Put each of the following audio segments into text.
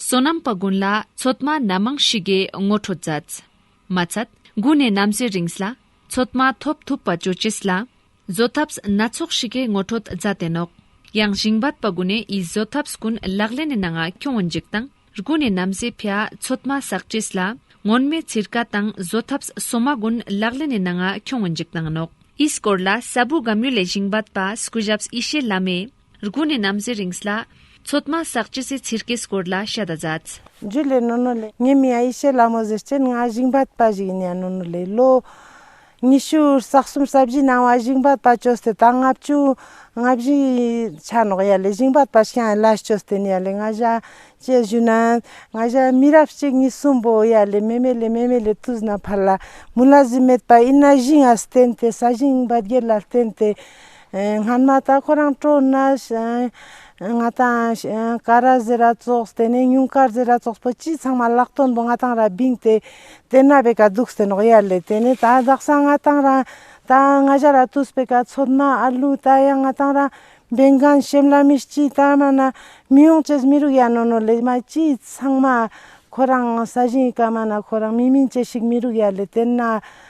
བསོད་ནམས་དཔའ་དགོན་ལ་ཚོད་མ་སྣ་མང་ཞིག་གིས་ངོ་སྤྲོད་མཛད། མ་ཚད། དགུ་ནས་གནམ་སའི་རིངས་ལ་ཚོད་མ་ཐོབ་ཐུབ་པ་བྱོས་ཅེས་ལ། བཟོད་ཐབས་སྣ་ཚོགས་ཤིག་གིས་ངོ་སྤྲོད་མཛད་དེ་ནོག། ཡང་ཞིང་བར་དཔའ་དགོན་ནས་ཡི་བཟོད་ཐབས་ཀུན་ལག་ལེན་ནས་ནང་ཁྱོན་བོན་འཇིགས་དང་དགུ་ནས་གནམ་སའི་ཕྱྭ་ཚོད་མ་བསགས་ཅེས་ལ། སྔོན་མའི་ཚིར་ཀ་དང་བཟོད་ཐབས་སོ་མ་ཀུན་ལག་ལེན་ནས་ནང་ཁྱོན་བོན་འཇིགས་དང་ནོག། ཡི་སྐོར་ལ་ས་བུ་སྒམ་ཡུལ་ལས་ཞིང་བར་དཔའ་སྐུ་ཞབས་ཡེ་ཤེས་བླ་མས། རྒུ་ནས་ནམ་ཟེ་རིངས་ལ། ཚོད་མ་བསགས་ཅི་ཟེ་ཚིར་གེ་སྐོར་ལ་ཤ་དང་རྫ། འཇུ་ལེ་ནོ་ནོ་ལེ། ཉི་མའི་ཡེ་ཤེས་ལ་མོ་ཟེར་སྤྱན་ལྔ་བཞུགས་འབར་པ་བཞུགས་ཉྭ་ནོ་ནོ་ལེ་ལོ། ཉི་ཤུ་རྩ་གསུམ་རྩ་བཞི་སྣང་བ་བཞུགས་འབར་པ་བཅོ་སྟེ་དང་ལྔ་བཅུ། ལྔ་བཞི་ཆ་ནོག་ཡ་ལེ་བཞུགས་འབར་པ་ཤ་ལ་བཅོ་སྟེ་ནི་ཡ་ལེ་ལྔ་བཞི་བཅས་བཞུགས་ན། ལྔ་བཞི་མི་རབས་གཅིག་གཉིས་གསུམ་པོ་ཡ་ལེ་མེ་མེ་ལེ་མེ་མེ་ལེ་དུས་ན་ཕར་ལ་མུ་ལ་གཟུགས་མེད་པ་ཨི་ན་བཞིན་ལ་བརྟེན་ཏེ་ས་བཞིན་བརྒྱད་ལ་བརྟེན་ཏེ། སྔར་མ་ད་ཁོ་རང་སྤྲོ་ན། ང་དང་ཀ་ར་ཟེ་ར་ཙོགས་དེ་ནས་སྙུང་དཀར་ཟེ་ར་ཙོགས་པོ་སྤྱི་ཚང་མ་ལག་སྟོན་པོ་ང་དང་ར་བིང་དེ་དེ་ན་བེ་ག་འདུག་སྟེ་ནོག་ཡ་ལེ་དེ་ནས་ད་དག་སང་ང་དང་ར་ད་ང་བཞ་ར་ཏུས་བེ་ག་ཚོད་མ་ཨ་ལུ་ད་ཡ་ང་དང་ར་བེ་འགན་ཤེམ་ལ་མི་སྐྱིད་ད་མ་ན་མི་ཡོང་ཅེས་མི་རུག་ཡ་ནོ་ནོ་ལེ་མ་སྤྱི་ཚང་མ་ཁོ་རང་ས་བཞིན་ག་མ་ན་ཁོ་རང་མི་མིན་ཅེས་ཤིག་མི་རུག་ཡ་ལེ་དེ་ན།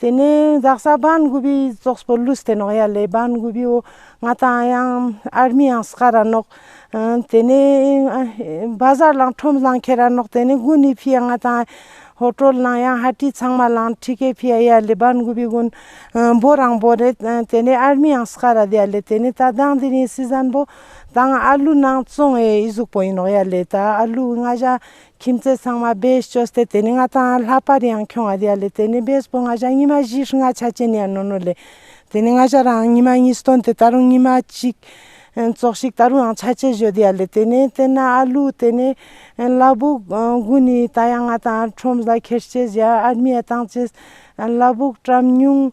དེ་ནས་འཛག་ས་སྦན་གུ་བི་ཙོགས་པོ་ལུས་དེ་ནོག་ཡ་ལེ་སྦན་གུ་བི་འོ་ང་དང་ཡང་ཨར་མི་ཡང་སྐ་ར་ནོག་དེ་ནས་སྦ་གཟར་ལང་ཁྲོམ་གླང་ཁྱེར་ར་ནོག་དེ་ནས་དགུན་ནི་བྷི་ཡ་ང་དང་ཧོ་ཀྲོལ་ནང་ཡང་ཧ་ཀྲི་ཚང་མ་ལང་ཁྲི་ཀེ་བྷི་ཡ་ཡ་ལེ་སྦན་གུ་བི་དགུན་འབོ་རང་འབོ་རེ་དེ་ནས་ཨར་མི་ཡང་སྐ་ར་དེ་ཡ་ལེ་དེ་ནས་ད་དང་དེ་ནི་སི་ཟན་འབོ་དང་ཨར་ལུ་ནང་བཙོང་ཨེ་ཨི་གཟུགས་པོ་ཡིན་ནོག་ཡ་ལེ་ད་ཨར་ལུ་ང་བཞ་ཁྱིམ་མཚེས་ཚང་མ་བེད་སྤྱོད་སྟེ་དེ་ནས་ང་དང་ལྷག་པར་ཡང་ཁྱོད་ཨ་དེ་ཨ་ལས་དེ་ནས་བེད་སྤོ་ང་ཞག་གཉིས་མ་བཞི་ཧྲི་ང་ཆ་ཅན་ཡང་ནོ་ནོ་ལས། དེ་ནས་ང་ཞག་རང་གཉིས་མ་གཉིས་སྟོན་དེ་ད་རུང་གཉིས་མ་གཅིག། ཙོག་ཤིག་ད་རུང་ཡང་ཆ་ཅན་བཞོ་དེ་ཨ་ལས་དེ་ནས་དེ་ན་ཨ་ལུག་དེ་ནས། གླ་སྦུག་དགུ་ནི་ད་ཡང་ང་དང་ཁྲོམ་བཟའ་ཁེར་སྐྱེས་བཞི་ཨར་མི་ཨ་ཐང་ཅེས། གླ་སྦུག་བཀྲམ་ཉུང།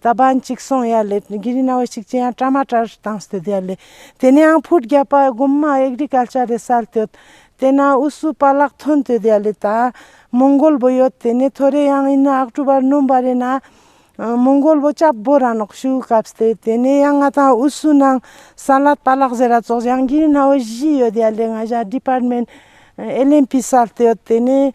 རྟ་པན་གཅིག་སོང་ཡ་ལེ། གི་རི་ན་བ་ཅིག་ཅེ་ཡང་བཀྲ་མ་བཀྲར་བཏང་སྟེ་བསྡད་ཡ་ལེ། དེ་ནས་ཡང་ཕུད་རྒྱབ་པ་སྒོམ་མ་ཨེག་རི་གལ་ཆ་རེ་སལ་བསྟོད། དེ་ན་ཨུ་སུ་པ་ལག་ཐོན་བསྟོད་ཡ་ལེ་ད། མོང་གོལ་བོ་ཡོད་དེ་ནས་ཐོ་རེ་ཡང་ཨིན་ན་ཨག་ཀྲུ་པར་ནོམ་བ་རེ་ན། མོང་གོལ་བོ་སྐྱབས་སྦོ་ར་ནོག་ཤུ་སྐབས་སྟེ་དེ་ནས་ཡང་ང་དང་ཨུ་སུ་ནང་སལ་ལ་པ་ལག་ཟེ་ར་ཙོགས་ཡང་གི་རི་ན་བ་བཞི་ཡོད་ཡ་ལེ་ང་བཞག་དྲི་པར་མེན་ཨེ་ལེན་པི་སལ་བསྟོད་དེ་ནས་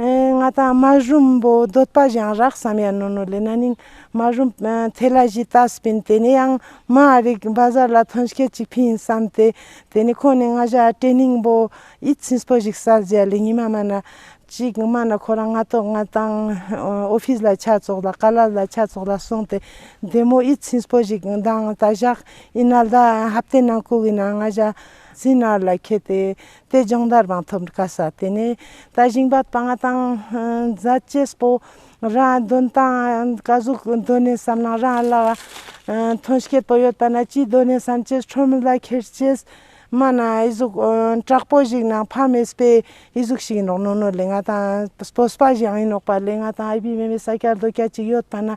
ང་དང་མ་རུམ་བོ་འདོད་པ་གཞང་རག་བསམ་ཡ་ནོ་ནོ་ལེ་ན་ནིང་མ་རུམ་ཐེ་ལ་ཞི་ཏཱ་སི་པིན་དེ་ནས་ཡང་མ་རིག་འབའ་ཟར་ལ་ཐོན་སྐད་ཅིག་ཕིན་བསམ་སྟེ་དེ་ནས་ཁོ་ནི་ང་བཞ་སྤྲེ་སྙིང་བོ་ཡིད་ཚིམས་པོ་ཞིག་བསལ་རྗེས་ལེ་ཉི་མ་མ་ན་ཅིག་མ་ན་ཁོ་རང་ང་དོག་ང་དང་ཨོ་ཕིས་ལ་ཆ་ཙོག་ལ་ཀ་ལ་ལ་ཆ་ཙོག་ལ་སོང་སྟེ་བདེ་མོ་ཡིད་ཚིམས་པོ་ཞིག་འདང་ད་བཞག་ཡིན་ན་ལ་ཧབ་ཏེ་ནང་ཁུག་ཡིན་ན་ང་བཞ་ཟིན་ནར་ལ་ཁད་དེ་དེ་སྦྱོང་བརྡར་དང་ཐོབ་དཀའ་ས་དེ་ནི་ད་ཞིང་པ་དཔའ་ངར་དང་མཛའ་བརྩེ་སྤོ། རང་གདོན་དང་བཀའ་གཟུགས་གདོད་ནས་བསམ་ན་རང་ལ་ཐོན་སྐྱེད་དོ་ཡོད་པ་ན་ཅིས་གདོད་ནས་བསམ་ཅེས་ཁྲོ་མོ་ལ་ཁྱེར་ཅེས་སྨྲ་ན་ཡིད་གཟུགས་དྲག་པོ་ཞིག་ནང་ཕ་མེས་པའི་ཡིད་གཟུགས་ཤིག་ཡིན་རོགས་ནོར་ནོར་ལས་ང་དང་སྤོ་སྤ་ཞིག་ཡང་ཡིན་རོགས་པ་ལས་ང་དང་ཨ་ཕའི་མེས་པའི་ས་སྐྱ་རྡོ་སྐྱ་གཅིག་ཡོད་པ་ན་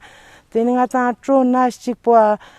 དེ་ནི་ང་དང་སྤྲོ་ན་གཅིག་པོ་ཨ་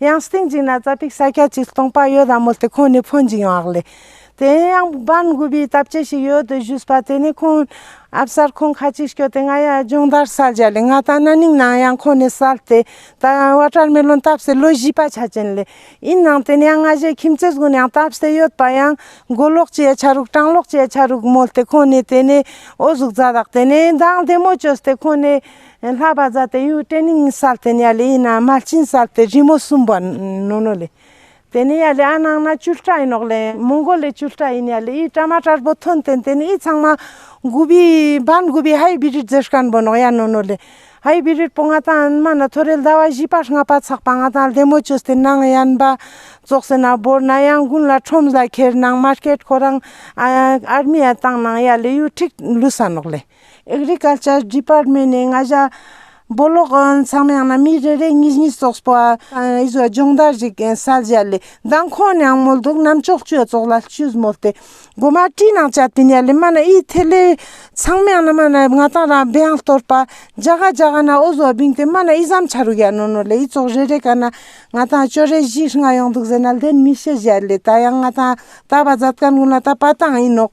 ཡང་སྟེང་འཇིགས་ན་རྩ་ཕིག་ས་སྐྱ་གཅིག་སྟོང་པ་ཡོད་དམ་མོད་དེ་ཁོང་ནི་ཕོ་འཇིགས་ཡོང་ཨག་ལས། དེ་ཡང་འབར་འགུལ་པའི་སྟབས་ཅི་ཞིག་ཡོད་དུ་བཞུད་པ་དེ་ནི་ཁོང་ཨ་བསར་ཁོང་ཁ་ཅིག་སྐྱོ་སྟེ་ང་ཡ་སྦྱོང་བརྡར་སར་སྦྱར་ལས་ང་ད་ན་ནིང་ནང་ཡང་ཁོང་ནི་གསལ་ཏེ་ད་ཡང་བ་ཀྲར་མི་ལོན་སྟབས་སེ་ལོ་བཞི་པ་ཆ་ཅན་ལས་ཡིན་ནང་དེ་ནི་ཡང་ང་བཞད་ཁྱིམ་རྩེ་གཟུང་ཡང་སྟབས་སེ་ཡོད་པ་ཡང་མགོ་ལོག་ཅེ་ཡ་ཆ་རུག་སྤྲང་ལོག་ཅེ་ཡ་ཆ་རུག་མོད་དེ་ཁོང་ནི་དེ་ནི་ཨོ་གཟུགས་རྫ་དག་དེ་ནི་མདངས་བདེ་མོ་བཅོས་ཏེ་ཁོང་ནི། ཡང་ལྷག་པར་ཛཱ་ཏེ་ཡུལ་ཏྲེ་ནིང་སར་དེ་ནས་ལི་ཡི་ན་མ་ཅིན་སར་དེ་རི་མོ་གསུམ་པོ་ནོ་ནོ་ལི། དེ་ནས་ཡ་ལི་ཨ་ནང་ན་ཅུལ་ཏྲ་ཡིན་ནོག་ལེ་མོང་གོ་ལི་ཅུལ་ཏྲ་ཡིན་ཡ་ལི་ཡིས་ཏྲ་མ་ཏྲར་པོ་ཐོན་ཏེན་དེ་ནས་ཡིས་ཚང་མ། གུ་བི་བཱན་གུ་བི་ཧའི་བི་རིར་རྫེ་ཤཀན་པོ་ནོག་ཡ་ནོ་ནོ་ལི། ཧའི་བི་རིར་པོ་ང་དང་ཨན་མ་ན་ཐོ་རེལ་ཟླ་བ་བཞི་པ་ལྔ་པ་ཚགས་པ་ང་དང་ལྷེ་མོ་ཅོས་དེ་ནང་ཡན་པ་རྫོགས་སེ་ན་བོར་ན་ཡང་དགུན་ལ་ཁྲོམ་ཟ་ཁེར་ནང་མར་ཀེད་ཁོ་རང། ཨར་མི་ཡ་དང་ནང་ཡ་ལི་ཡུལ་ཁྲིག་ལུས་ས་ནོག་ལེ། Agriculture Department ནས་ང་བཞག་འབོ་ལོག་མཚམས་ཡང་ན་མི་རེ་རེ་གཉིས་གཉིས་སོགས་པོ་ཨི་ཟོ་སྦྱོང་བརྡར་ཞིག་གསལ་བཞག་ལས་མདང་ཁོང་ནས་ཨང་མོལ་དུག་རྣམས་གཅོག་བཅོས་བཙོག་ལ་བཅོས་མོ་སྟེ་སྒོ་མ་དཀྲིས་ནང་བཅའ་དེ་ནས་ལས་མ་ན་ཨི་ཐེ་ལེ་མཚམས་ཡང་ན་མ་ན་ང་ཏང་རང་སྦེ་ཨང་གཏོར་པ་འཇའ་ག་འཇའ་ག་ན་ཨོ་ཟོ་བིང་སྟེ་མ་ན་ཨི་ཟམ་ཆ་རུག་ཡ་ནོ་ནོ་ལས་ཨི་བཙོག་རེ་རེ་ག་ན་ང་ཏང་བཅོ་རེ་བཞི་ལྔ་ཡོང་འདུག་ཟེར་ན་ལྷད་མི་ཤེས་བཞག་ལས་ད་ཡང་ང་ཏང་ད་བ་ཛབ་ཀན་ཀུན་ལ་ད་པ་ཏང་ཨི་ནོག་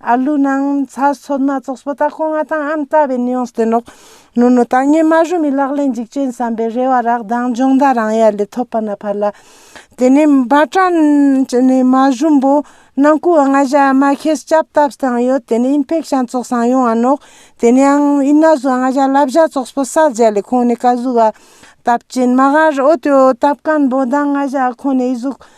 ཨར་ལུག་ནང་ཚ་སོགས་སྣ་ཚོགས་སྤུ་དག་སྐོང་བ་དང་ཨམ་ལྟ་བའི་ནུས་ལྡན་རོགས་རྣོ་རྣོ་དང་སྙེ་མ་རུ་མི་ལག་ལེན་འཇིགས་ཅན་བསམ་པའི་རེ་བ་རག་མདངས་འབྱུང་ཟླ་རང་ཡར་ལས་ཐོབ་པ་ན་ཕར་ལ། དེ་ནས་འབའ་ཀྲན་ནས་མ་ཞུམ་པོ་ནང་སྐུ་ལྔ་བཞི་ཨ་མ་ཁྱེད་སྐྱབས་བཏབས་སྟངས་ཡོད་དེ་ནས་ཨིན་ཕེག་ཤན་ཚོགས་སངས་ཡོང་བ་ནོག་དེ་ནས་ཨང་ཨིན་ན་ཟུ་ལྔ་བཞི་ལ་བཞི་ཚོགས་སྤུ་ས་བརྒྱད་ལས་ཁོང་ནས་ཀ་གཟུགས་ཨ་བཏབ་ཅིན་མ་ཧར་ཨོ་ཏོ་ཨོ་བཏབ་ཀན་པོ་མདངས་ལྔ་བཞི་ཨ་ཁོང་ནས་ཨི་གཟུགས་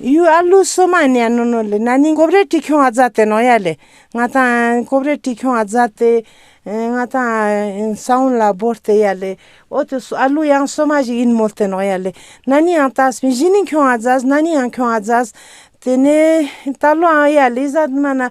ཡུལ་ཨ་ལུ་སོ་མ་ནེ་ཨ་ནོ་ནོ་ལི་ན་ནི་ཀོབ་རེ་ཏི་ཁྱོང་ཨ་ཛ་ཏེ་ནོ་ཡ་ལེ། ང་དང་ཀོབ་རེ་ཏི་ཁྱོང་ཨ་ཛ་ཏེ། ང་དང་ས་བོན་ལ་བོར་ཏེ་ཡ་ལེ། ཨོ་ཏི་སོ་ཨ་ལུ་ཡང་སོ་མ་ཞིག་ཡིན་མོད་ཏེ་ནོ་ཡ་ལེ། ན་ནི་ཨང་ཏཱ་སི་བཞི་ནི་ཁྱོང་ཨ་ཛ་ཟི་ན་ནི་ཨང་ཁྱོང་ཨ་ཛ་ཟི། དེ་ནས་ད་ལོ་ཨང་ཡ་ལེ་ཟ་དི་མ་ན།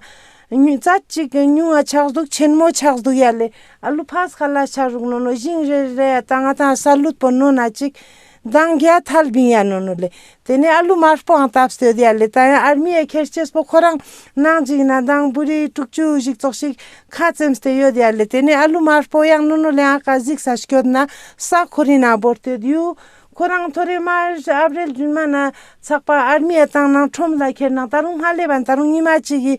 ཉུ་ཙ་ཅིག་གི་ཉུང་ཨ་ཆགས་འདུག་ཆེན་མོ་ཆགས་འདུག་ཡ་ལེ། ཨ་ལུ་ཕ་ས་ཁ་ལ་ཆགས་རུག་ནོ་ནོ་བཞིན་རེ་རེ་ཡ་ད་ང་དང་ས་ལུད་པོ་ནོ་ན་ཅིག། མདང་རྒྱ་ཐལ་བིན་ཡ་ནོ་ནོ་ལེ། དེ་ནས་ཨ་ལུ་མར་སྤོ་ཨང་སྟབས་སྟོད་ཡ་ལེ་ད་ཡང་ཨར་མི་ཡའི་ཁེར་སྐྱེས་སྤོ་ཁོ་རང་ནང་འཇིག་ན་མདང་བུ་རི་དྲུག་ཅུ་བཞིག་ཙོག་ཞིག་ཁ་ཙེམས་ཏེ་ཡོད་ཡ་ལེ་དེ་ནས་ཨ་ལུ་མར་སྤོ་ཡང་ནོ་ནོ་ལེ་ཨང་ཀ་གཟིག་ས་སྐྱོད་ན་ས་ཁོ་རི་ན་བོར་ཏེ་དུས་ཁོ་རང་ཐོ་རེ་མར་ཨབ་རེལ་རྫུན་མ་ན་ཚགས་པ་ཨར་མི་ཡའི་ཏང་ནང་ཁྲོམ་ལ་ཁེར་ནང་ད་རུང་སྔར་ལས་བན་ད་རུང་ཉི་མ་གཅིག་གི་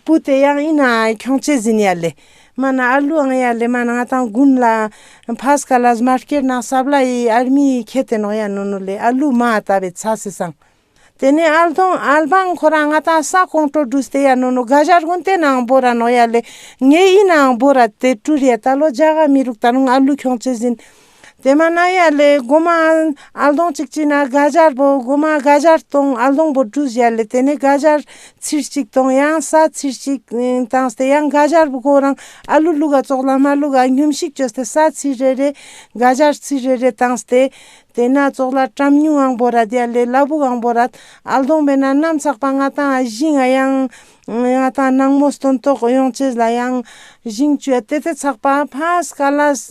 བུ་དེ་ཡང་ཨིན་ཨང་ཁྱོང་ཅེ་ཟིན་ཡ་ལེ། མ་ན་ཨར་ལུའི་ཨང་ཡ་ལེ་མ་ནང་ཏང་གུན་ལ། ཕཱ་སྐ་ལཱས་མ་ཀེར་ནང་སཱ་བ་ལ་ཡི་ཨར་མི་ཡི་ཁེ་ཏེ་ནོག་ཡ་ནོ་ནོ་ལེ་ཨར་ལུའི་མ་ཨ་ཏཱ་བེ་ཚ་སི་སང། དེ་ནས་ཨར་དོང་ཨར་བང་ཁོ་ར་ང་ཏང་སཱ་ཀོང་ཀྲོ་ཀྲུ་སྟེ་ཡ་ནོ་ནོ་ག་ཞར་གུན་ཏེ་ནང་བོ་ར་ནོག་ཡ་ལེ་ངེ་ཡི་ནང་བོ་ར་ཏེ་ཀྲུ་རེ་ཏཱ་ལོ་ཇཱ་ག་མི་རུག་ཏཱ་ནོང་ཨར་ལུའི་ཁྱོང་ཚོས་ཟིན། དེ་མ་ན་ཡ་ལས་སྒོ་མ་ཨལ་གདོང་གཅིག་བཅིངས་ན་དགའ་སྦྱར་བོ་སྒོ་མ་དགའ་སྦྱར་དང་ཨལ་གདོང་བོ་གྲུ་བཞི་ལས་དེ་ནས་དགའ་སྦྱར་ཚིར་གཅིག་དང་ཡང་ས་ཚིར་གཅིག་དང་སྟེ་ཡང་དགའ་སྦྱར་བོ་གོ་རང་ཨལ་ལུ་ལུ་ག་བཙོག་ལ་མ་ལུ་ག་སྙོམས་ཤིག་ཅོ་སྟེ་ས་ཚིར་རེ་རེ་དགའ་སྦྱར་ཚིར་རེ་རེ་དང་སྟེ། དེ་ན་བཙོག་ལ་བྲམ་སྨྱུང་ཨང་བོ་ར་དེ་ལས་སླ་བུག་ཨང་བོ་ར་ཨལ་གདོང་བས་ན་ནམ་ཚགས་པ་ལྔ་དང་བཞི་ལྔ་ཡང་ང་དང་ནངས་མོ་སྟོན་ཐོག་གཡོག་བྱེད་ལ་ཡང་བཞིན་སྤྱོད་དེ་དེ་ཚགས་པ་ཕ་སྐ་ལ་ས་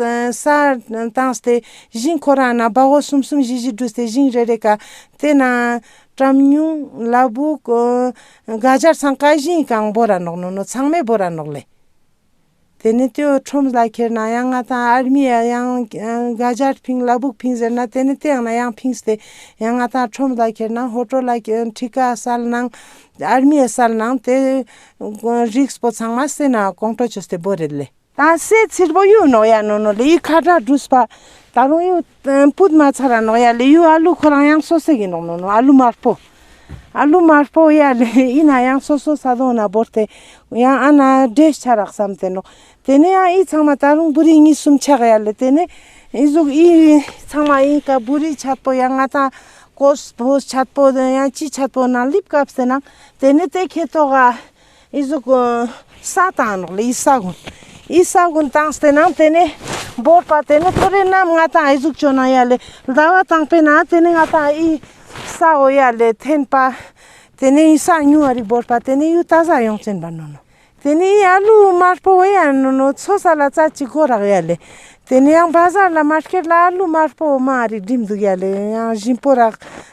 བཏང་སྟེ་བཞིན་ཁོ་རང་ན་སྦ་བོ་གསུམ་གསུམ་བཞི་བཞི་བསྒྲུས་ཏེ་བཞིན་རེ་རེ་ག་དེ་ན་བཀྲམ་ཉུང་ལ་བུག་ག་སྦྱར་ཚང་ཀ་བཞིན་གང་བོ་ར་ནོག་ནོ་ནོ་ཚང་མས་བོ་ར་ནོག་ལེ། དེ་ནི་ཏེའོ་ཁྲོམ་བཟླ་ཁྱེར་ན་ཡང་ང་དང་ཨར་མི་ཡ་ཡང་ག་ཇར་ཕིང་བླ་སྦུག་ཕིང་ཟེར་ན་དེ་ནི་ཏེ་ཡང་ན་ཡང་ཕིང་སྟེ། ཡང་ང་དང་ཁྲོམ་བཟླ་ཁྱེར་ན་ཧོ་ཀྲོ་ལ་ཁྲི་ཀ་གསལ་སྣང། ཨར་མི་ཡ་གསལ་སྣང་དེ། རིགས་སྤོ་ཚང་མ་སེ་ན་ཀོང་ཀྲོ་ཆོས་སྟེ་བོ་རེད་ལེ། དང་སེ་ཚིར་བོ་ཡུ་ནོ་ཡ་ནོ་ནོ་ལེ་ཡི་ཁ་དྲག་བྲུས་པ། ད་རུང་ཡུ། པུད་མ་ཚ་ར་ནོག་ཡ་ལི་ཡུ་ཨ་ལུ་ཁོ་རང་ཡང་སོ་སེ་གི་ནོག་ནོ་ནོ་ཨ་ལུ་དམར་པོ། ཨ་ལུ་དམར་པོ་ཡ་ལི་ཨི་ན་ཡང་སོ་སོ་ས་དོང་ན་བོར་ཏེ་ཡང་ཨ་ན་འདྲེས་ཆ་རག་བསམ་ཏེ་ནོག་དེ་ནས་ཡང་ཨི་ཚང་མ་ད་རུང་བུ་རི་གཉིས་གསུམ་ཆག་ཡ་ལི་དེ་ནས་ཨི་ཟུག་ཨི་ཚང་མ་ཨི་ཀ་བུ་རི་ཆད་པོ་ཡང་ང་དང་ཀོས་བོས་ཆད་པོ་ཡང་ཅི་ཆད་པོ་ན་ལིབ་ཀ་བསེ་ན་དེ་ནས་དེ་ཁེ་ཏོག་ག་ཨི་ཟུ་ཀུན། ས་དང་ནོག་ལ་ཨི་ས་ཀུན། ཨི་ས་ཀུན་དང་སྟེ་ནང་དེ་ནས། བོར་བ་དེ་ནི་ཐོ་རེ་རྣམས་ང་དང་ཨི་ཟུག་ཅོ་ན་ཡ་ལེ། ཟླ་བ་དང་པེ་ན་དེ་ནི་ང་དང་ཨི། ས་འོ་ཡ་ལེ་འཐེན་པ། དེ་ནི་ཨི་ས་ཉུང་བ་རིགས་བོར་བ་དེ་ནི་ཡུ་ཏཱ་ས་ཡོངས་ཅན་པ་ནོ་ནོ། དེ་ནི་ཨི་ཨ་ལུ་དམར་པོ་འོ་ཡ་ནོ་ནོ་མཚོ་ས་ལ་རྩ་གཅིག་གོ་རག་ཡ་ལེ། དེ་ནི་ཡང་བྷ་ཟར་ལ་མར་ཁེར་ལ་ཨ་ལུ་དམར་པོ་འོ་མ་རིགས་བསྒྲིམ་འདུག་ཡ་ལེ་ཡང་བཞིན་པོ་རག།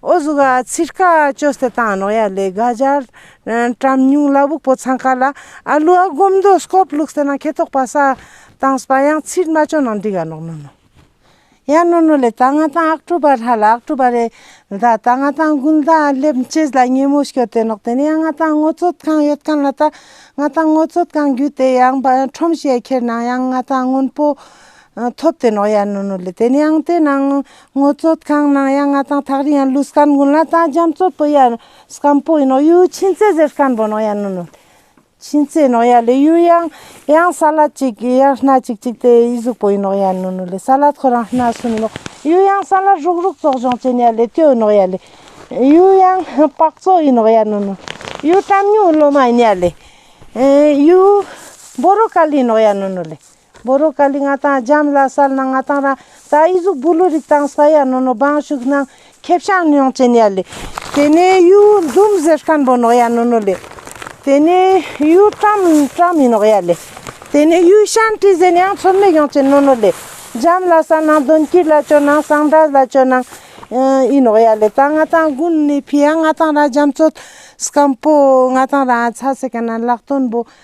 ཨོ་གཟུགས་ཨ་ཚི་དཀའ་སྤྱོད་བསད་སྟངས་རྣོ་ཡ་ལས་དགའ་འབྱར། བཀྲམ་སྙུང་བླ་བུག་པོ་ཚང་ཁ་ལ་ཨ་ལུ་ཨ་སྒོམ་འདོ་སྐོབ་བླུག་བསད་ན་ཁེ་ཐོག་པ་ས་དང་སྤ་ཡང་ཚིལ་མ་ཅོ་ནང་འདི་ག་ནོག་ནོ་ནོ། ཡ་ནོ་ནོ་ལས་ད་ང་ཏང་ཨག་ཀྲུ་པ་ལྷ་ལ་ཨག་ཀྲུ་པ་རེ་ད་ད་ང་ཏང་དགུན་ཟླ་ཨ་ལེབ་མཆེད་ལ་ཉེ་མོ་ཤོ་དེ་ནོག་དེ་ནས་ཡ་ང་ཏང་ངོ་ཚོད་གང་ཡོད་གང་ལ་ད་ང་ཏང་ངོ་ཚོད་གང་རྒྱུ་དེ་ཡང་བ་ཁྲོམ་ཤེ་ཁྱེར་ནང་ཡང་ང་ཏང་སྔོན་པོ་ཐོབ་དེ་ནོག་ཡར་ནུ་ནུ་ལི་དེ་ནིའང་དེ་ནང་ངོ་བཙོད་ཁང་ནང་ཡང་ང་དང་ཐག་རིང་ཡང་ལུས་སྐམ་དགུན་ལ་དང་རྒྱ་མཚོ་པོ་ཡར་སྐམ་པོ་ཡིན་ནོག་ཡུ་ཕྱིན་ཚེ་ཟེར་སྐམ་པོ་ནོག་ཡར་ནུ་ནུ་ཕྱིན་ཚེ་ནོག་ཡར་ལི་ཡུ་ཡང་ཡང་ས་ལ་ཅིག་གི་ཡར་སྣ་ཅིག་ཅིག་དེ་ཡི་གཟུགས་པོ་ཡིན་ནོག་ཡར་ནུ་ནུ་ལི་ས་ལ་ཁོ་རང་སྣ་སུ་ནུ་ནོག་ཡུ་ཡང་ས་ལ་རུག་རུག་བཙོག་ལྗོངས་ཅན་ཡར་ལི་སྟོད་ནོག་ཡར་ལི་ཡུ་ཡང་སྤག་བཙོག་ཡིན་ནོག་ཡར་ནུ་ནུ་ཡུ་སྐྲམ་སྨྱུག་ལོ་མ་ཡིན་ཡར་ལི་ཡུ་འབོ་རོ་ཀ་ལི་ཡིན་ནོག་ཡར་ནུ་ནུ་ལི། བོ་རོ་ཀ་ལི་ང་དང་རྒྱམ་བླ་སལ་ན་ང་དང་ར་ད་ཨི་གཟུགས་བུ་ལུ་རིགས་དང་ས་ཡ་ནོ་ནོ་བང་ཤུགས་སྣང་ཁེ་བཤང་ཉོང་ཅན་ཡ་ལི། དེ་ནས་ཡུ་འཛུམ་ཟེར་སྐན་བོ་ནོག་ཡ་ནོ་ནོ་ལི། དེ་ནས་ཡུ་ཏྲམ་ཏྲམ་མི་ནོག་ཡ་ལི། དེ་ནས་ཡུ་ཤན་ཏྲི་ཟན་ཡང་ཚོར་མེད་ཡོང་ཅན་ནོ་ནོ་ལི། རྒྱམ་བླ་སལ་ན་གདོན་གྱིས་ལ་ཅོ་ནང་སང་འདྲ་ལ་ཅོ་ནང་ཨི་ནོག་ཡ་ལི་ད་ང་དང་གུན་ནི་ཕི་ཡ་ང་དང་ར་རྒྱམ་ཚོད་སྐམ་པོ་ང་དང་ར་ཨ་ཚ་སེ་ཀ་ན་ལག་དོན་བོ་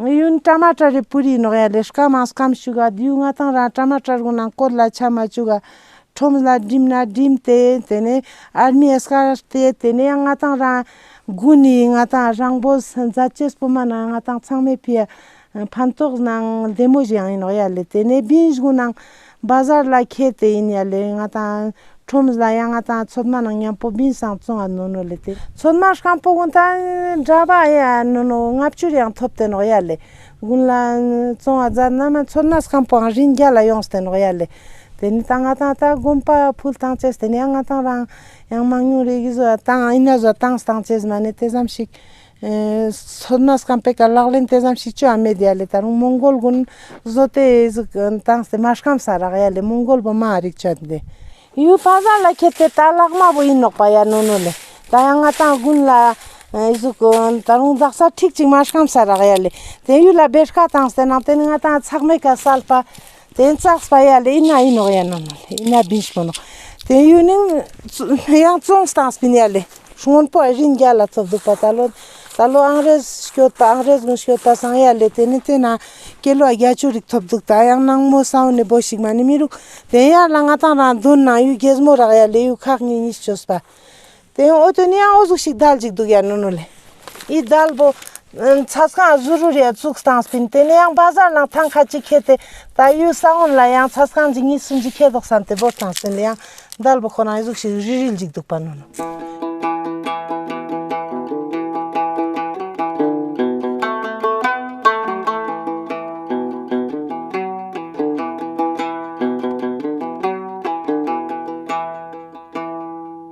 ངུ་ཡོན་བཀྲ་མ་བཀྲ་རི་པུ་རི་ནོག་ཡ་ལེ་སྐ་མ་སྐམ་བྱུག་ག་དུས་ང་དང་རང་བཀྲ་མ་བཀྲ་རུང་ན་སྐོར་ལ་ཆ་མ་བཅུག་ག། ཁྲོམ་ལ་འགྲིམ་ན་འགྲིམ་དེ་དེ་ནས་ཨར་མི་ཨེ་སྐ་སྟེ་དེ་ནས་ང་དང་རང། དགུན་ནི་ང་དང་རང་བོ་ཟི་མཛའ་བཅས་སྤོ་མ་ན་ང་དང་ཚང་མས་ཕི་ཡ། ཕན་ཐོགས་ནང་བདེ་མོ་བཞིན་ཡང་ཡིན་ནོག་ཡ་ལེ་དེ་ནས་བིན་བཞུགས་ནང། སྦ་གཟར་ལ་ཁད་དེ་ཡིན་ཡ་ལེ་ང་དང། ཁྲོམ་གཟ་ཡ་ང་དང་ཚོད་མ་ནང་ཉམས་པོ་བིན་སང་བཙོང་བ་ནོ་ནོ་ལེ་དེ། ཚོད་མ་ཤང་པོ་གུང་ཐང་འདྲ་བ་ཡ་ནོ་ནོ་ལྔ་བཅུར་ཡང་ཐོབ་དེ་ནོག་ཡ་ལེ། གུང་ལ་བཙོང་བ་རྫ་ན་མ་ཚོད་མ་ཤང་པོའང་རིན་བརྒྱ་ལ་ཡོངས་དེ་ནོག་ཡ་ལེ། དེ་ནི་ད་ང་དང་ད་དགོན་པ་ཕུལ་ཐང་ཆེས་དེ་ནི་ཡ་ང་དང་རང། ཡང་མང་ཉུང་རེ་གིས་བཟོ་བ་དང་ཨི་ན་བཟོ་སྟངས་སྟངས་ཆེས་མ་ནི་དེ་ཙམ་ཞིག། མཚོ་སྣ་སྐམ་པའི་ག་ལག་ལེན་དེ་ཙམ་ཞིག་ཅུའུ་ཨ་མེ་རི་ཡ་ལས་ད་རུང་མོང་གོལ་དགུན་བཟོ་དེ་ཟིག་བཏང་སྟེ་མ་སྐམ་ས་རག་ཡ་ལས་མོང་གོལ་བུ་མ་རིག་ཅོད་འདི་ཡུལ་ཕ་ས་ལ་ཁྱེར་ཏེ་ད་ལག་མ་བུ་ཡིན་ནོག་པ་ཡ་ནོ་ནོ་ལས་ད་ཡ་ང་ཏང་དགུན་ལ་ཟིག་ད་རུང་འཛག་ས་ཁྲིག་ཅིག་མ་སྐམ་ས་རག་ཡ་ལས་དེ་ཡུལ་ལ་བེར་ཁ་བཏང་སྟེ་ནང་དེ་ནི་ང་ཏང་ཚག་མེད་ཀ་སལ་པ། དེང་སང་སྤ་ཡ་ལེ་ཡིན་ན་ཡིན་ནོག་ཡ་ན་ནོ་ལེ་ཡིན་ན་བིན་ཤི་མོ་ནོག་དེང་ཡུལ་ནིང་ཡང་བཙོང་སྟངས་སྤིན་ཡ་ལེ་སྔོན་པོ་ཨ་རིན་རྒྱ་ལ་ཚོབ་འདུག་པ་ད་ལོ་ད་ལོ་ཨང་རེས་སྐྱོ་ད་ཨང་རེས་མོ་སྐྱོ་ད་སང་ཡ་ལེ་དེ་ནི་དེ་ན་སྐྱེ་ལོ་རྒྱ་ཅུ་རིག་ཐོབ་འདུག་ད་ཡང་ནང་མོ་སང་ནི་བོ་ཞིག་མ་ནི་མི་རུག་དེང་ཡར་ལ་ང་དང་རང་དོན་ནང་ཡུལ་རྒྱས་མོ་རག་ཡ་ལེ་ཡུལ་ཁག་གཉིས་གཉིས་སྐྱོ་སྤ་དེ་ཨོ་དོད་ནི་ཨོ་གཟུགས་ཤིག་དལ་ཅིག་འདུག་ཡ་ནུ་ནུ་ལེ། ཡི་དལ་པོ། ཚ་སྐང་གཟུ་རུ་རེ་བཙུགས་སྟངས་སྤིན་དེ་ནི་ཡང་བ་ཟར་ལང་ཐང་ཁ་ཅིག་ཁེ་ཏེ་ད་ཡུལ་ས་བོན་ལ་ཡང་ཚ་སྐང་ཇི་གཉིས་སུ་འཇིག་ཁེ་དོགས་སམ་དེ་བོར་སྟངས་སྤིན་ཡང་དལ་པོ་ཁོ་རང་ཡི་གཟུགས་ཤིག་རིལ་རིལ་འཇིག་འདུག་པ་ནུ་ནུ།